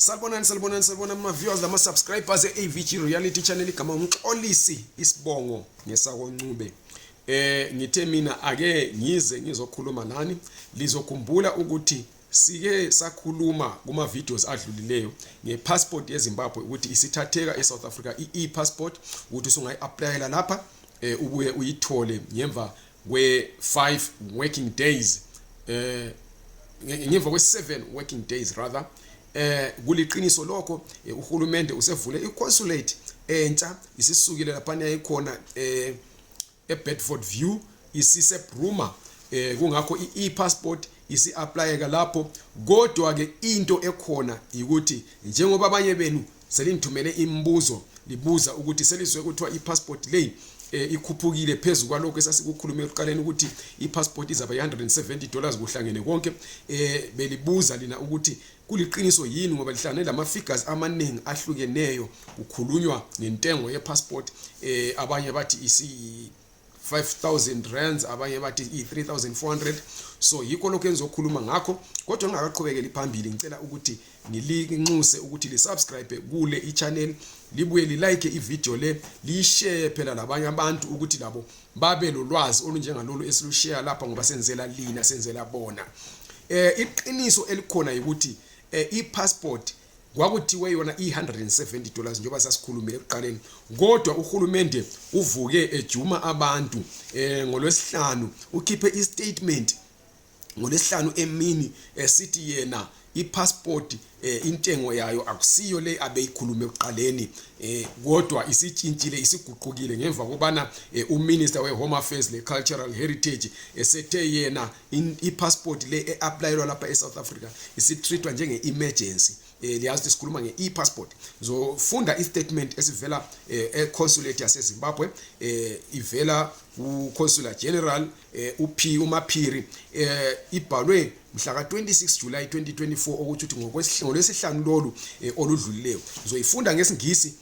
Salibonani salibonani salibonani ma viewers lama subscribers eAVG Reality Channel kama umxolisi isibongo ngesako Ncube eh ngithe mina ake ngize ngizokhuluma nani lizokhumbula ukuthi sike sakhuluma kuma videos adlulileyo nge passport yeZimbabwe ukuthi isithatheka eSouth Africa i e-passport ukuthi usungayi applyela lapha eh ubuye uyithole ngemva we five working days eh ngemva kwe seven working days rather eh kuliqiniso lokho eh, uhulumende usevule iconsulate entsha isisukile lapha yayikhona eh eBedford View isise Bruma eh kungakho iPassport isiapplyeka lapho kodwa ke into ekhona ukuthi njengoba abanye benu selingithumele imibuzo libuza ukuthi selizwe kuthiwa i-passport leyi e, ikhuphukile phezu kwalokho esasikukhulume ekuqaleni ukuthi i-passport izaba yi-170 dollars kuhlangene konke e, belibuza lina ukuthi kuliqiniso yini ngoba lihlangane lama-figures amaningi ahlukeneyo kukhulunywa ngentengo ye-passport e, abanye bathi 5000 rands abanye bathi i3400 so yikho lokho engizokhuluma ngakho kodwa ngingakaqhubekeli phambili ngicela ukuthi ngilinxuse ukuthi lisubscribe kule ichannel libuye lilike ivideo le liyishare phela labanye abantu ukuthi labo babe lolwazi olunjengalolu esilushare lapha ngoba senzela lina senzela bona eh iqiniso elikhona ukuthi eh, i-passport kwakuthiwe yona i-170 dollars njengoba sasikhulumile ekuqaleni kodwa uhulumende uvuke ejuma abantu um ngolwesihlanu ukhiphe istatement ngolwesihlanu emini esithi eh, yena ipassport eh, intengo yayo akusiyo le abeyikhulume ekuqaleni eh, kodwa isitshintshile isiguqukile ngemva kobana eh, uminister we-home affairs le-cultural heritage esethe yena i-passport le e-aplayelwa lapha e-south africa isitreatwa njenge-emergency um eh, liyazi ukuthi sikhuluma nge-e-passport zofunda i-statement esivela um eh, econsulate yasezimbabwe um ivela kuconsular general um up umaphiri um ibhalwe mhla ka-26 july 2024 okuthi ukuthi ngolwesihlanu lolu um oludlulileyo zoyifunda ngesingisi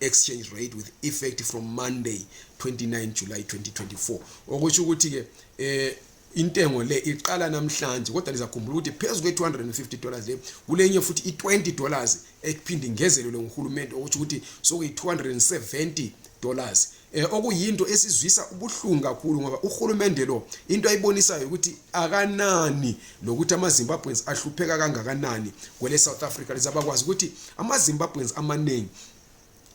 exchange rate with effect from monday 29 july 2024 okusho ukuthi ke eh intengo le iqala namhlanje kodwa lizakhumbula ukuthi phezu kwe-250 dollars le kulenye futhi i-20 dollars ekuphinde ingezelelwe nguhulumende okutsho ukuthi sokuyi-270 dollars eh, okuyinto esizwisa ubuhlungu kakhulu ngoba uhulumende lo into ayibonisayo ukuthi akanani lokuthi ama-zimbabweans ahlupheka kangakanani kwele south africa leza bakwazi ukuthi ama-zimbabweans amaningi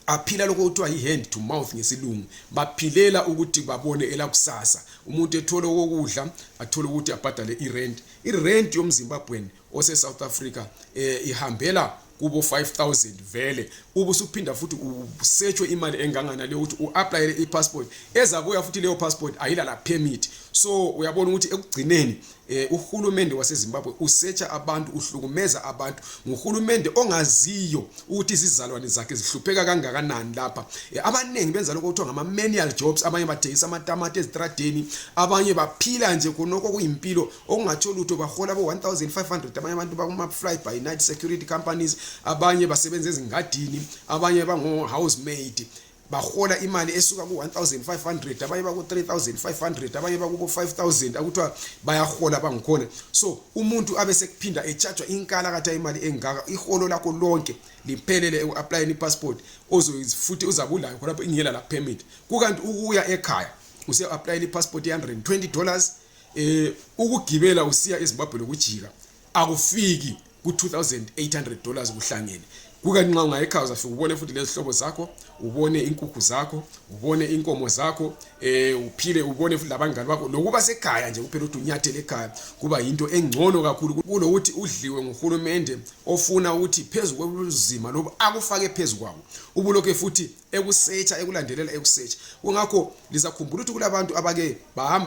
aphila lokho kuthiwa yi-hand to mouth ngesilungu baphilela ukuthi babone elakusasa umuntu ethole okokudla athole ukuthi abhadale irent irent yomzimbabweni ose South Africa eh ihambela kubo 5000 vele ubusuphinda futhi usetshwe imali engangana leyo ukuthi uapplyele ipassport ezabuya futhi leyo passport ayila la permit so uyabona ukuthi ekugcineni eh, uhulumende waseZimbabwe usetsha abantu uhlukumeza abantu nguhulumende ongaziyo ukuthi izizalwane zakhe zihlupheka kangakanani lapha eh, abaningi benza lokho kuthiwa ngama manual jobs abanye bathengisa amatamati ezitradeni abanye baphila nje khonokho kuyimpilo okungatsho lutho bahola bo 1500 abanye abantu bakuma fly by night security companies abanye basebenza ezingadini abanye bango house maid bahola imali esuka ku 1500 abanye baku 3500 abanye baku 5000 akuthiwa bayahola bangikhona so umuntu abe sekuphinda echargewa inkala katha imali engaka iholo lakho lonke liphelele uapplying ipassport ozofuthi uzabulayo khona ingela la permit kukanti ukuya ekhaya use applying ipassport ye 120 dollars eh ukugibela usiya eZimbabwe lokujika akufiki ku 2800 dollars kuhlangene kuka nxa ungayekhaya uzafika ubone futhi lezihlobo zakho ubone inkukhu zakho ubone inkomo zakho eh uphile ubone futhi labangani bakho lokuba sekhaya nje kuphela ukuthi unyathele ekhaya kuba yinto engcono kakhulu kulokuthi udliwe nguhulumende ofuna ukuthi phezu kwezima loba akufake phezu kwawo ubulokhe futhi ekusetsha ekulandelela ekusetsha kungakho lizakhumbula ukuthi kulabantu abake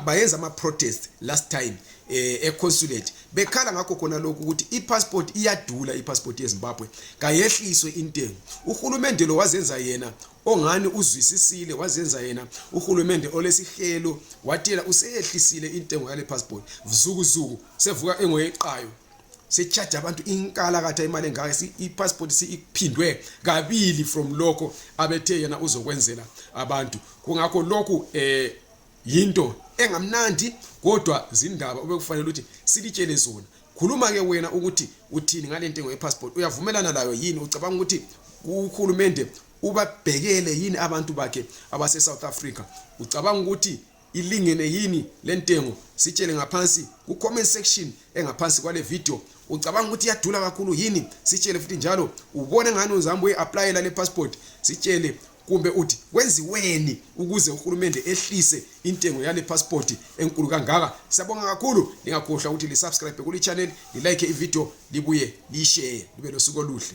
bayenza ama-protest last time eh, econsulate bekhala ngakho khona lokhu ukuthi i-passport iyadula i-passport yezimbabwe kayehliswe intengo uhulumende lo wazenza yena ongani uzwisisile wazenza yena uhulumende olesihelo watela useyehlisile intengo yale passport zukuzuku sevuka engoyeqayo sechaja abantu inkalakatha imali engaka ipassport siphindwe kabili from lokho abethe yena uzokwenzela abantu kungakho lokhu eh yinto engamnandi kodwa zindaba obekufanele ukuthi silitshele zona khuluma ke wena ukuthi uthini ngale ntengo yepassport uyavumelana layo yini ucabanga ukuthi uhulumende ubabhekele yini abantu bakhe abase-south africa ucabanga ukuthi ilingene yini lentengo sitshele ngaphansi ku comment section engaphansi kwale video ucabanga ukuthi iyadula kakhulu yini sitshele futhi njalo ubone ngani uzambe uyi-aplayela le passport sitshele kumbe uthi kwenziweni ukuze uhulumende ehlise intengo yale passport enkulu kangaka siyabonga kakhulu lingakhohlwa ukuthi lisubscribe kuli channel lilike ivideo libuye lishare libe losuku oluhle